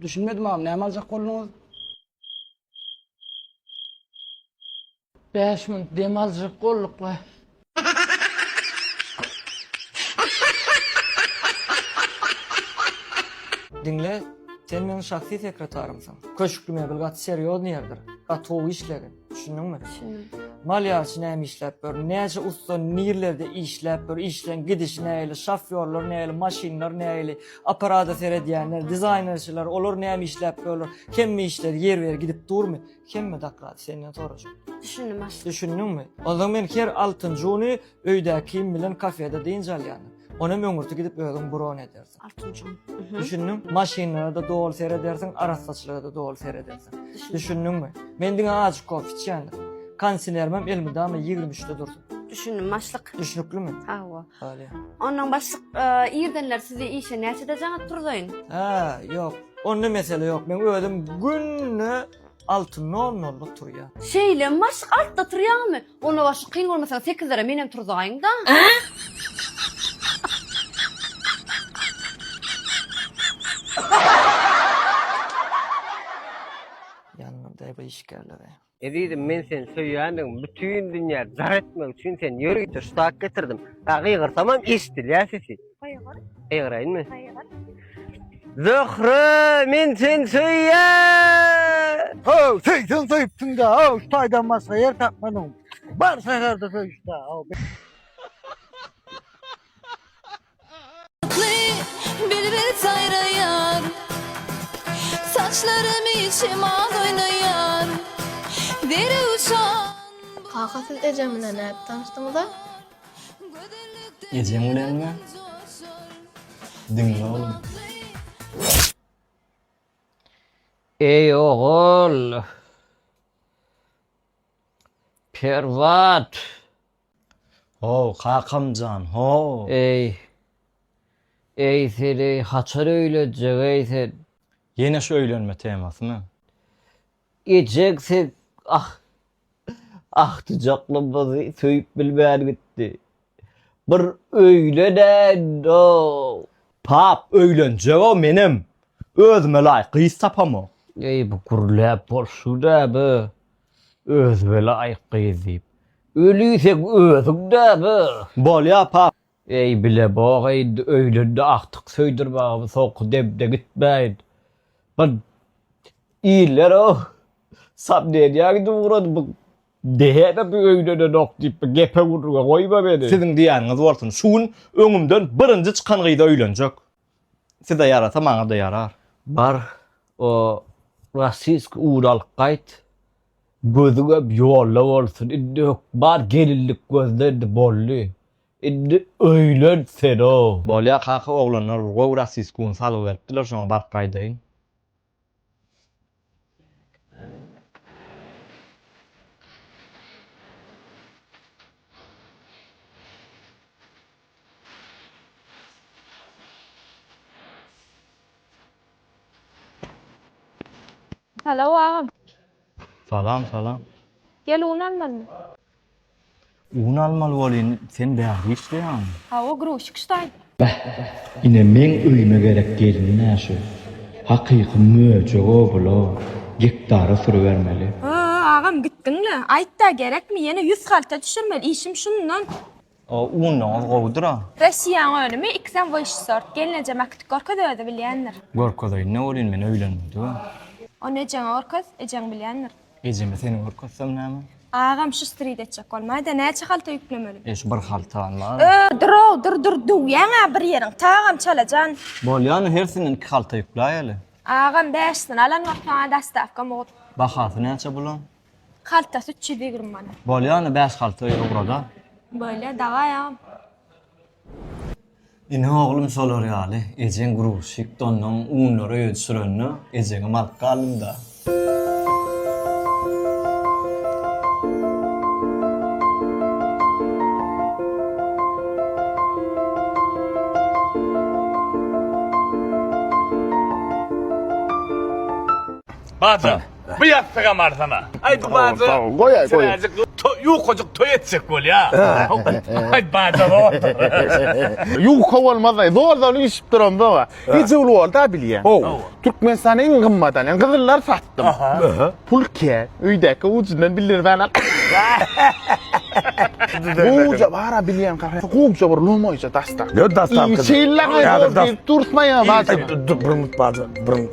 Düşünmedim agam näme aljak bolduňyz? Bäş minut dem aljak bolduk we Diňle, sen meň şahsy sekretarymsyň. Köşkli mebel gaty serýozny ýerdir. Gaty gowy işledi. Düşündüňmi? Düşündüm. Malýarçy näme işläp dur? Näçe usta nirlerde işläp dur? Işleň gidişi näli? Şofýorlar näli? Maşynlar näli? Apparata seredýänler, dizaýnerçiler, olar näme işläp durlar? Hemme işler ýer ber gidip durmy? Hemme daklat senden sorajak. Düşündüm aşyk. Düşündüňmi? Ondan men her altyncjy güni Öýdä kim bilen kafede dynç alýan. Onem öňürti gidip özüň bron edersiň. Altynjan. Düşündiň? Maşynlara-da doly seredersiň, arassaçylyga-da doly seredersiň. Düşündiňmi? Men diňe azjyk kofe içýändir. Konsinermem elmydama ýigrimi üçde dursun. Düşündim, başlyk. Düşnüklimi? Hawa. Bolýa. Onnoň başlyk, irdenler sizi işe näçede jaňa turzaýyn? Hä, ýok. Onda mesele ýok. Men özüm günde alty nol nolda turýa. Şeýle maşk altda turýamy? Onda başy kyn bolmasa sekizlere menem turzaýyňda. Ýanyňa daýba işgärleri. Ezizim men seni söýýändigimi bütin dünýä jar etmek üçin seni ýörite şu tak getirdim. Gygyrsamam eşidilýär sesi. Eýgräýinmi? Eýgräýin. Zöhre min sen söýýä. Haw, söýsen söýüpsiň-de, haw, şu taýdan başga ýer tapmadyň. Bar şäherde söýüşde, haw. Bilbil saýraýar. Saçlarymy şemal oýnaýar. Derewşan. Kaka siz ejem bilen nädip tanyşdyňyz-a? Ejeň bilenmi? Diňle oglum. Eý ogul. Perwat. How kakam jan how. Eý. Eý seni haçan öýlenjek eý sen. Ýene şu öýlenme temasymy? Ejeg siz ah, agtyjaklymyzy söýüp bilmän gitdi. Bir öýlenäýin-ow. Pap, öýlenjeg-ow menem. Özüme laýyk gyz tapamok. Eý, bu gürläp bolşy näme, özüme laýyk gyz diýip. Öliseň özüň näme? Bolýar, pap. Eý, bile bog eýd, öýlende agtyk söýdür maňa bu soňky demde gitmäýin. Bir iller o, samneniýa gidip ugrady bu dehede bu öýlenenok diýip bir gepe gürrüňe goýma meni. Siziň diýýäniňiz bolsun, şu gün öňümden birinji çykan gyz öýlenjek. Size ýarasa maňa-da ýarar. Bar, o rossiýskiý un alyp gaýt. Gözüňem ýolda bolsun. Indi hökman gelinlik gözle indi boldy. Indi öýlen senow. Bolýa kaka oglanlar bir gowy rasiskun salgy beripdiler şoňa baryp gaýdaýyn. Salow agam. Salam salam. Gel un almalymy. Un almaly bolyn sen bärde işleýäňmi. Hawa gruzçik ştaý. Beh, ine meň öýüme gerek gelin-ä şu. Hakyky möjek obla, gektara sürübermeli. Hoo agam gitdiňle. Aýtda gerekmi ýene ýüz halta düşürmeli işim şundan. O unlaňyz gowudyra. Rossiýaň önümi ikisem wyş sort. Gelneje makyt görkez özi bilýändir. Görkezeýin ne bolýyn men öýlenmedigem. Ony ejeňe görkez, ejeň bilýändir. Ejeme seni görkezsem näme? Agam şu strid etjek bolmaýda näçe halta ýüklemeli? E şu bir halta almaly. Ö, dur-ow, dur, dur, döwýäň-ä bir ýeriň, tagam çalajan. Bolýa ony hersini iki halta ýükläýeli. Agam bäşisini alan wagt saňa dostawka mugt. Bahasy näçe bulaň? Haltasy üç ýüz ýigrimi manat. Bolýa ony bäş halta öýe ugra-da. Bolýa, daway agam. Ine oglum şolar ýaly, ejeň gruzçik, donnuň unlary özi sürende, ejeňem alyp galdym-da. Bajan, Bu ýassygam arzana. Aý bu baja. Goý aý goý. Ýukajyk toý etjek bolýa. Aý baja boldy. Ýuka bolmaz aý. Zor zor işip duran zoga. Ejewli bolda bilýä. Türkmenistana iň gymmat alýan gyzyllar satdym. Pul kä. Öýdäki ujundan bildirmän al. Gowja bara bilýän kafe. Gowja bir lomoýja dastak. Ýa dastak. Şeýle gaýgy diýip dursaýa baja. Durmut baja.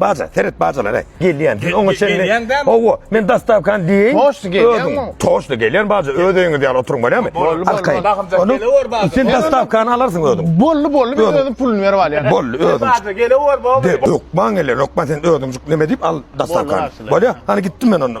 Baja, seret bajalara. Gelýän. Siz oňa çenli. Gelýän dämi? Hawa, men dastawkany diýeýin. Toşda gelýänmi? Toşda gelýän baja. Öz öýüňiz ýaly oturyň bolýamy? Boldy, boldy. Bagymjak gelewer baja. Sen dastawkany alarsyň özüň. Boldy, boldy. Men özüm puluny berip alýan. Boldy, özüň. Baja gelewer baja. Hökman gelewer. Hökman sen özüňjik neme diýip al dastawkany. Bolýa? Hany gitdim men onda.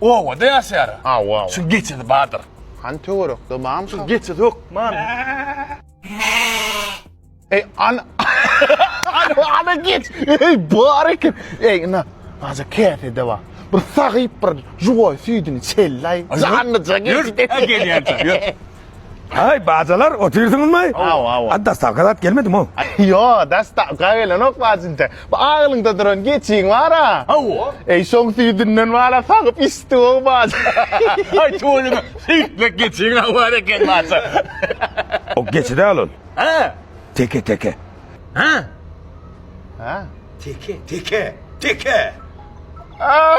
Obada ýaşaýar. Hawa, hawa. Şuň geçesi bardyr. Hany töwerekde barmy şol? Geçesi hökman. Eý, an. Ana geç. Eý, bar eken. Eý, ina. Aja käsede bar. Bir sagyp bir juwaý süýdüni çelläý. Janlyja geç. Ýör, gelýän. Ýör. Haý bajalar otyrsyňyzmy? Aw aw. A dastavka zat gelmedimi o? Ýo, dastavka gelenok bajynta. Bu agylyňda duran geçiň bar-a. Aw. Eý şoň süýdünden wala sagyp içdi o baja. Haý tüweleme süýtlek geçiň-a bar eken baja. O geçi däl ol. Hä? Teke teke. Hä? Hä? Teke teke teke. Aw!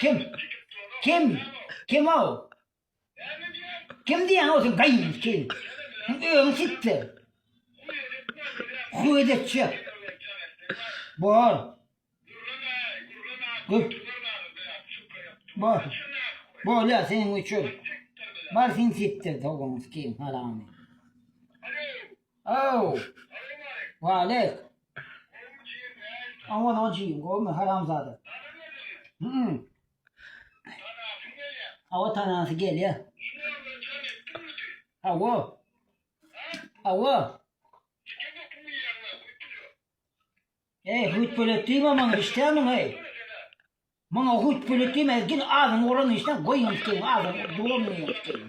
Kim? Kim? Kim-ow? Kim diýýäň-ow sen gaýynymyz kim? Öňi sitler. Huýet etjek. Bor. Gör. Bor. Bolýa seniň üçin. Bar sen sitler towumyz kim haramy. Ow. Walek. Aman on çiyin gowmy haramzada. Hmm. Awa tanasy gelýä. Awa. Awa. Ey, hut bölet diýme maňa işdämiň ey. Maňa hut bölet diýme, gel azyň oran işden goýun işdeýin, azyň dolan işdeýin.